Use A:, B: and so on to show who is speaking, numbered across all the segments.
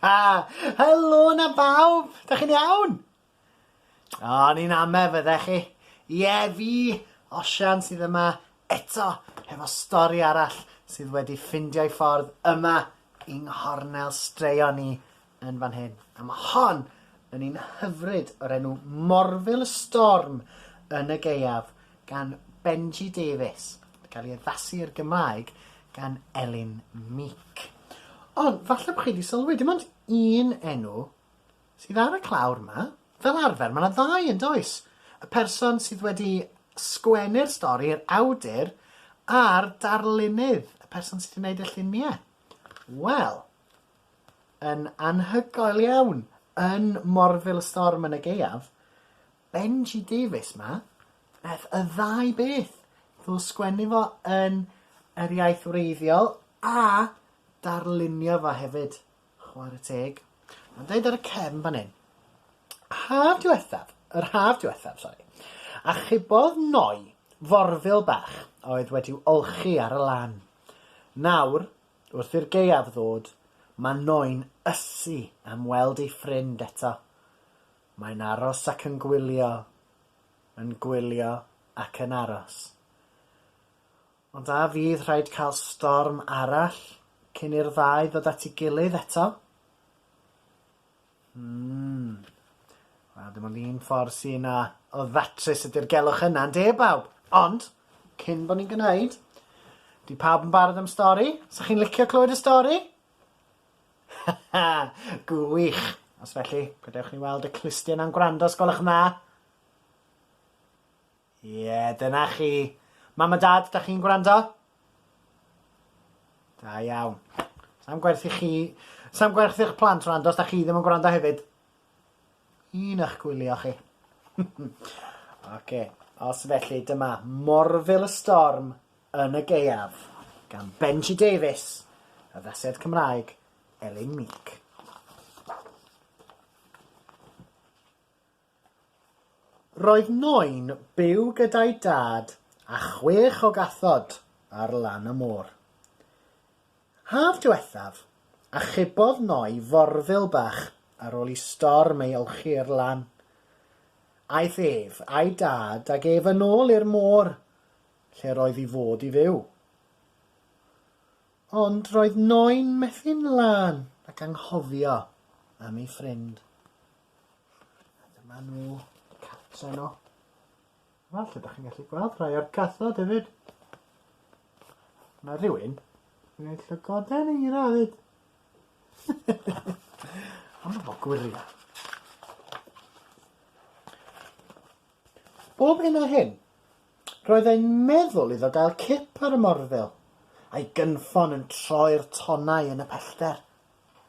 A: Ha! Helo na bawb! Da chi'n iawn? O, ni'n ame fydde chi. Ie, fi, Osian, sydd yma eto hefo stori arall sydd wedi ffindio'i ffordd yma yng nghornel straeon ni yn fan hyn. A mae hon yn un hyfryd o'r enw Morfil y Storm yn y Gaeaf gan Benji Davies. Mae'n cael ei addasu i'r Gymraeg gan Elin Meek. Ond falle bod chi wedi sylwi, dim ond un enw sydd ar y clawr yma. Fel arfer, mae yna ddau yn does? Y person sydd wedi sgwennu'r stori, yr awdur, a'r darlunydd, y person sydd wedi gwneud y lluniau. Wel, yn anhygoel iawn yn Morville Storm yn y gaeaf, Benji Davies ma, beth y ddau beth, ddo sgwennu fo yn yr iaith wreiddiol a darlunio fo hefyd, chwarae teg. Mae'n dweud ar y cefn fan hyn, haf diwethaf, yr haf diwethaf, sori, a chybodd noi forfil bach oedd wedi'w olchi ar y lan. Nawr, Wrth i'r gaeaf ddod, mae Noe'n ysu am weld ei ffrind eto. Mae'n aros ac yn gwylio, yn gwylio ac yn aros. Ond a fydd rhaid cael storm arall cyn i'r ddau ddod at ei gilydd eto? Mm. Wel, dim ond un ffordd sy 'na o ddatrys y dirgelwch yna, ynde bawb? Ond, cyn bod ni'n gwneud, di pawb yn barod am stori? Sa chi'n licio clywed y stori? Haha, gwych! Os felly, gadewch ni weld y clustiau 'na'n gwrando os gwelwch yn dda. Ie, dyna chi. Mam a Dad, da chi'n gwrando? Da iawn. Sam gwerth i chi... Sam gwerth i'ch plant wrando os da chi ddim yn gwrando hefyd. Un eich gwylio chi. Oce, os felly, dyma Morfil y Storm yn y Gaeaf gan Benji Davies, y ddased Cymraeg Elin Meek. Roedd Noe'n byw gyda'i dad a chwech o gathod ar lan y môr. Haf diwethaf, achubodd Noe forfil bach ar ôl i storm ei olchi i'r lan. Aeth ef a'i dad ag ef yn ôl i'r môr lle roedd i fod i fyw. Ond roedd Noe'n methu'n lân ac anghofio am ei ffrind. A dyma nhw, y cats enw. Wel, lle da chi'n gallu gweld rhai o'r cathod hefyd. Mae rhywun yn gwneud llygoden i ra hefyd. Ond bod gwyria. Bob hyn a hyn, roedd ein meddwl iddo gael cip ar y morfil, a'i gynffon yn troi'r tonnau yn y pellter.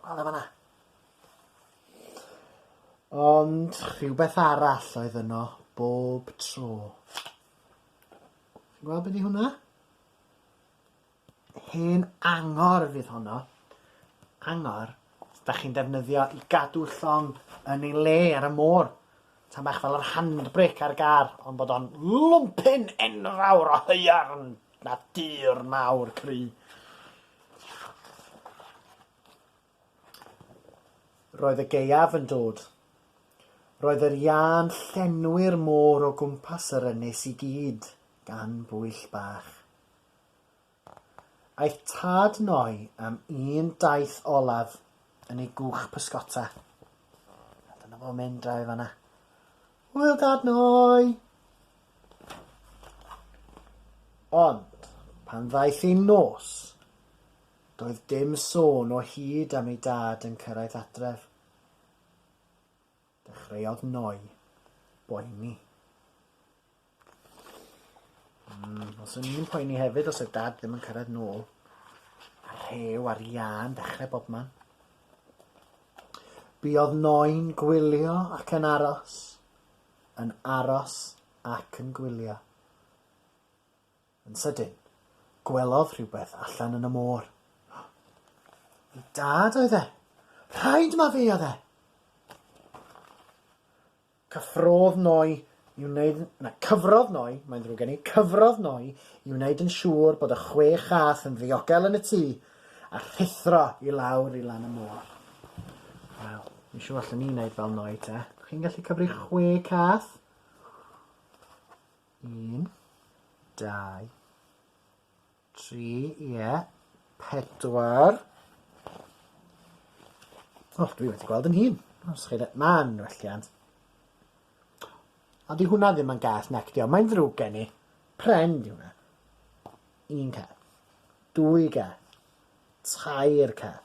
A: Wel, efo na. Ond rhywbeth arall oedd yno bob tro. Chi'n gweld be' 'di hwnna? Hen angor fydd honno. Angor 'dach chi'n defnyddio i gadw llong yn ei le ar y môr. Tam bach fel yr handbrake ar gar ond bod o'n lwmpyn enfawr o haearn na dŵr mawr cry. Roedd y gaeaf yn dod. Roedd yr iâ'n llenwi'r môr o gwmpas yr ynys i gyd gan bwyll bach. Aeth tad Noi am un daith olaf yn ei gwch pysgota. A dyna fo'n mynd draw i fanna. Hwyl dad Noi! Ond, pan ddaeth ei nos, Doedd dim sôn o hyd am ei dad yn cyrraedd adref. Dechreuodd Noi boeni. Mm, os o'n i'n poeni hefyd os oedd dad ddim yn cyrraedd nôl. A rhew ar iân dechrau bob man. Buodd Noi'n gwylio ac yn aros, yn aros ac yn gwylio. Yn sydyn, gwelodd rhywbeth allan yn y môr. Ei dad oedd e! Rhaid ma fe oedd e! Cyffrodd Noi i wneud... Na, cyfrodd Noi, mae'n ddrwg gen i, cyfrodd Noi i wneud yn siŵr bod y chwe chath yn ddiogel yn y tŷ, a rhuthro i lawr i lan y môr. Wel, mi siŵr allwn ni wneud fel Noi te. Chi'n gallu cyfri chwe cath? Un, dau, tri, ie, pedwar. O, dwi wedi gweld yn hun. Os chi... Ma'n welliant. Ond di hwnna ddim yn gas nectio. Mae'n ddrwg gen i. Pren di hwnna. Un car. Dwy car. Tair car.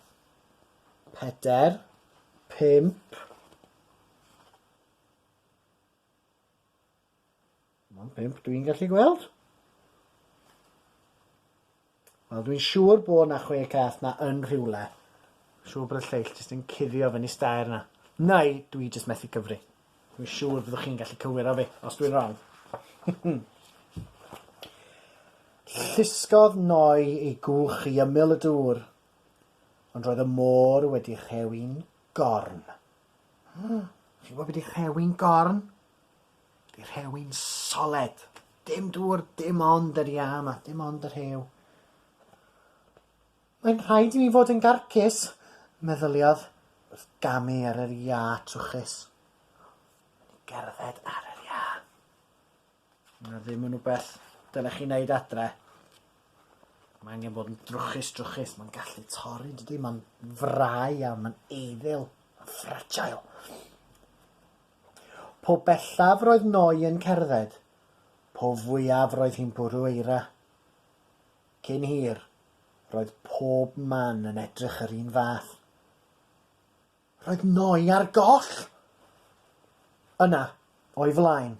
A: Peder. Pimp. Mae'n pump dwi'n gallu gweld. Wel, dwi'n siŵr bo' 'na chwe cath 'na yn rhywle. Siŵr bod y lleill jyst yn cuddio fyny stair 'na. Neu dwi jyst methu cyfri. Dwi'n siŵr byddwch chi'n gallu cywiro fi os dwi'n wrong. Llusgodd Noi ei gwch i ymyl y dŵr, ond roedd y môr wedi rhewi'n gorn. Chi'n gwybod be' 'di rhewi'n gorn? Y rhew yn soled. Dim dŵr, dim ond yr iâ yma, dim ond y rhew. Mae'n rhaid i mi fod yn garcus, meddyliodd wrth gamu ar yr iâ trwchus. Mae'n i gerdded ar yr iâ. Mae ddim yn rhywbeth dylech chi wneud adre. Mae angen bod yn drwchus, drwchus. Mae'n gallu torri, dydy? Mae'n frau iawn, mae'n eiddil, mae'n fragile. Po bellaf roedd Noe yn cerdded, po fwyaf roedd hi'n bwrw eira. Cyn hir, roedd pob man yn edrych yr un fath. Roedd Noe ar goll! Yna, o'i flaen,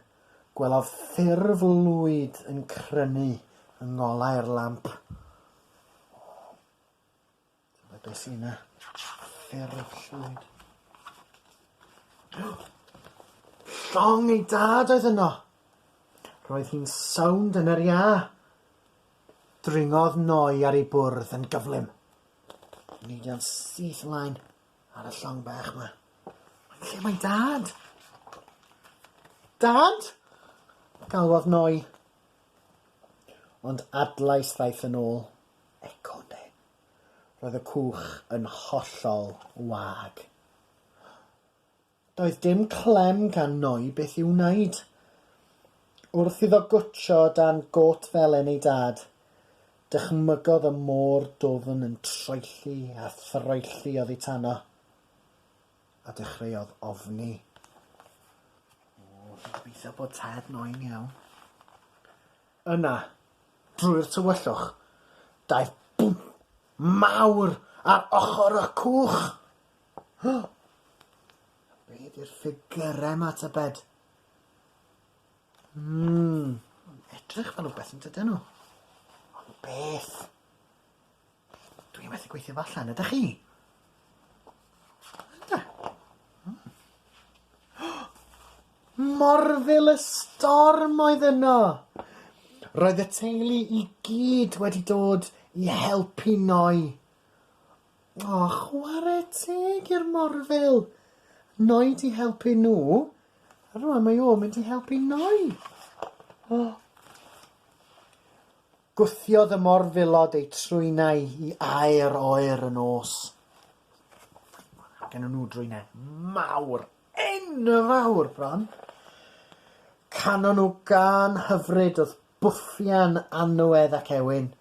A: gwelodd ffurf lwyd yn crynu yng ngolau'r lamp. Dyma beth sy'n na. Ffero'r llwyd. Llong ei dad oedd yno. Roedd hi'n sawnd yn yr ia. Dringodd noi ar ei bwrdd yn gyflym. Nid o'n syth ymlaen ar y llong bach yma. Lle mae dad? Dad? Galwodd noi. Ond adlais ddaeth yn ôl. Eco de. Roedd y cwch yn hollol wag. Doedd dim clem gan Noi beth i'w wneud. Wrth iddo gwtsio dan gôt felen ei dad, dychmygodd y môr dwfn yn troelli a throelli oddi tano, a dechreuodd ofni. O, fi'n gobeithio bod tad Noi'n iawn. Yna, drwy'r tywyllwch, daeth bwmp mawr ar ochr y cwch! O! Be ydi'r ffigyrau 'ma tybed? Hmm, maen nhw'n edrych fel rhywbeth yn dydyn nhw? Ond beth? Dwi methu gweithio fo allan, ydach chi? Ynde? Hmm. Morfil y storm oedd yno! Roedd y teulu i gyd wedi dod i helpu Noi. O, chware teg i'r morfil! Noi 'di helpu nhw, a rŵan mae o mynd i helpu Noi. O. Gwthiodd y morfilod eu trwynau i aer oer y nos. Mae gen nhw drwynau mawr, enfawr bron. Canon nhw gan hyfryd wrth bwffian Anwedd ac Ewyn.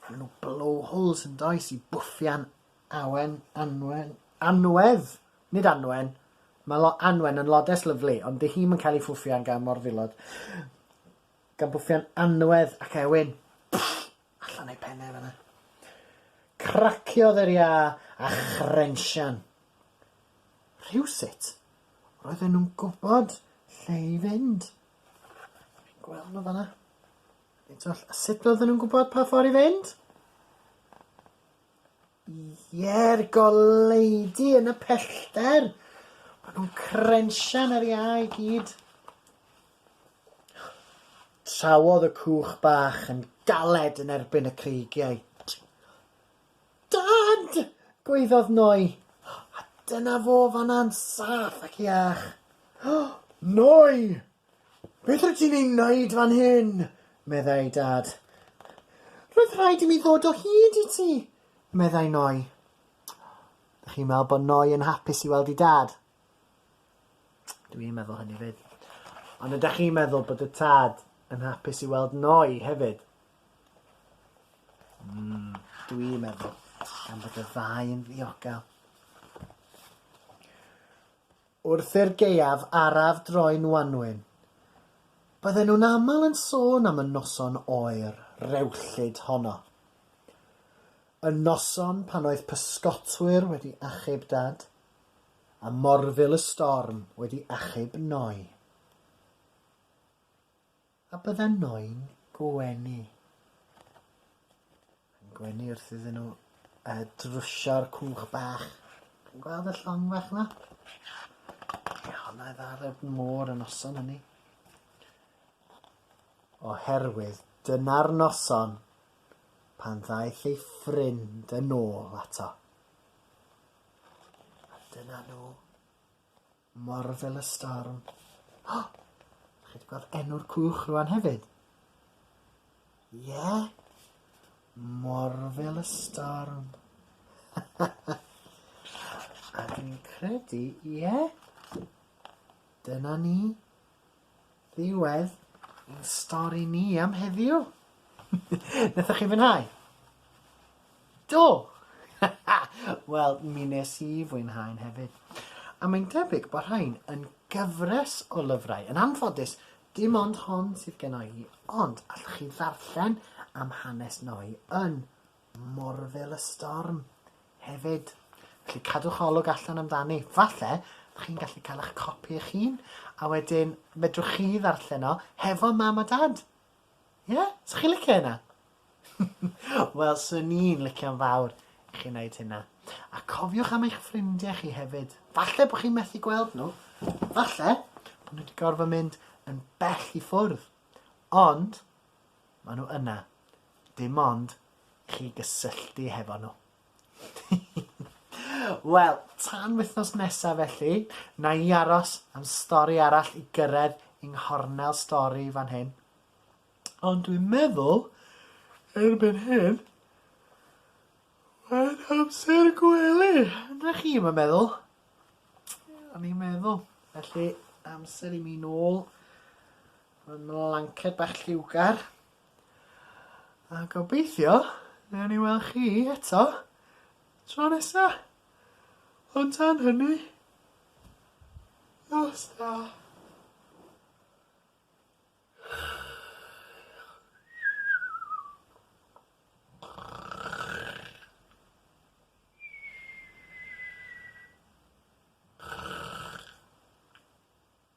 A: Mae nhw blowholes yn does i bwffian Awen, Anwen, Anwedd, nid Anwen. Mae lo, Anwen yn lodes lyflu, ond di hi'm yn cael ei ffwffian gan morfilod. Gan bwffian anwedd ac ewyn. Pfff! Allan a'i phen e fanna. Craciodd yr iâ a chrensian. Rhywsut, roedden nhw'n gwybod lle i fynd. Fi'n gweld nhw fanna. Nid oll, a sut roedden nhw'n gwybod pa ffordd i fynd? Ie'r goleudy yn y pellter! Ma' nhw'n crensian ar iâ i gyd. Trawodd y cwch bach yn galed yn erbyn y creigiau. Dad! gwaeddodd Noi. A dyna fo fan'na'n saff ac iach. Noi! Beth rwyt ti'n ei wneud fan hyn? meddai Dad. Roedd rhaid i mi ddod o hyd i ti, meddai Noi. Ydych chi'n meddwl bod Noi yn hapus i weld i Dad? Dwi i'n meddwl hynny fyd. Ond ydych chi'n meddwl bod y tad yn hapus i weld Noi hefyd? Mm, dwi i'n meddwl, gan bod y ddau yn ddiogel. Wrth i'r gaeaf araf droi'n wanwyn, bydden nhw'n aml yn sôn am y noson oer, rewllyd honno. Y noson pan oedd pysgotwyr wedi achub Dad, a morfil y storm wedi achub Noi. A byddan noi'n gwenu. Yn gwenu wrth iddyn nhw uh, drwsio'r cwch bach. Chi'n gweld y llong fach yma? Ie, hwnna ddal y môr yn noson hynny. Oherwydd dyna'r noson pan ddaeth ei ffrind yn ôl ato. A dyna nhw. Marvellous Storm. O! Dych chi wedi gweld enw'r cwch rwan hefyd? Ie? Yeah? Marvellous Storm. A dwi'n credu, ie? Yeah? Dyna ni. Ddiwedd ein stori ni am heddiw. Nathoch chi fwynhau? Do! Wel, mi nes i fwynhau'n hefyd. A mae'n debyg bod rhain yn gyfres o lyfrau. Yn anffodus, dim ond hon sydd gennau i, ond allwch chi ddarllen am hanes Noi yn Morfil y storm hefyd. Felly cadwch olwg allan amdani. Falle dych chi'n gallu cael eich copi eich hun a wedyn medrwch chi ddarllen o hefo mam a dad. Ie? Yeah? So chi'n licio hynna? Wel, so ni'n licio'n fawr i chi wneud hynna. A cofiwch am eich ffrindiau chi hefyd. Falle bod chi'n methu gweld nhw. Falle bod nhw wedi gorfod mynd yn bell i ffwrdd. Ond, Maen nhw yna. Dim ond i chi gysylltu hefo nhw. Wel, tan wythnos nesaf felly, na i aros am stori arall i gyrraedd yng nghornel stori fan hyn. Ond dwi'n meddwl, erbyn hyn, mae'n amser gwely. Na chi, mae'n meddwl? Ie, o'n i'n meddwl. Felly, amser i mi nôl Mae'n mlanced bach lliwgar. A gobeithio, newn ni weld chi eto tro nesa. Ond tan hynny, nos da.